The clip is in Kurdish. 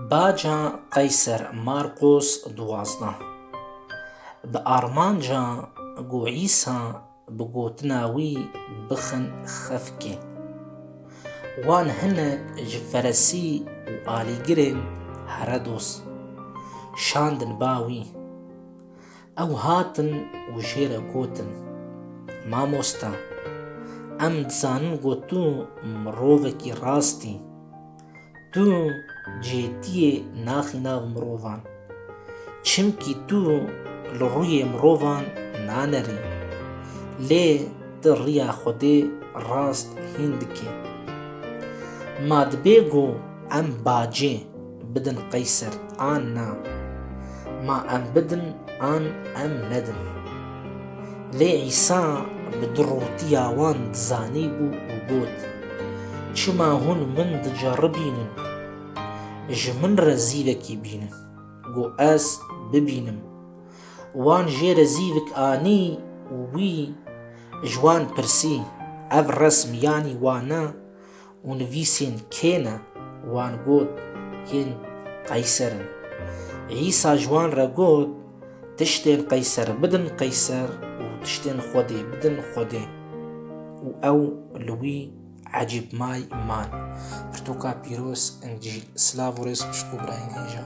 Baca Qeyser Marqos duwazdeh bi armanca ku Îsa bi gotina wî bixin xefkê, wan hinek ji feresî û alîgirên Heredos şandin ba wî. Ew hatin û jê re gotin, Mamosta, em dizanin ku tu mirovekî rast î. Tu cêdiyê naxî nav mirovan. Çimkî tu li rûyê mirovan nanerî. Lê tu riya Xwedê rast hîn dikî. Ma dibê ku em bacê. Bidin qeyser an na. Ma em bidin an em nedin. Lê Îsa bi du rotiya wan dizanîbû û got, Çima hûn min diceribînin? Ji min re zîvekî bînin, ku ez bibînim. Wan jê re zîvik anî û wî ji wan pirsî, Ev resm yanî wan e? Û nivîsên kê ne? Wan got, Yên qeyser in. Îsa ji wan re got, Tiştên qeyser bidin qeyser û tiştên Xwedê bidin Xwedê. Û ew li wî ecêb may man. Pirtûka pîroz, Încîl. Silav û rêz xwişk û birayên hêja.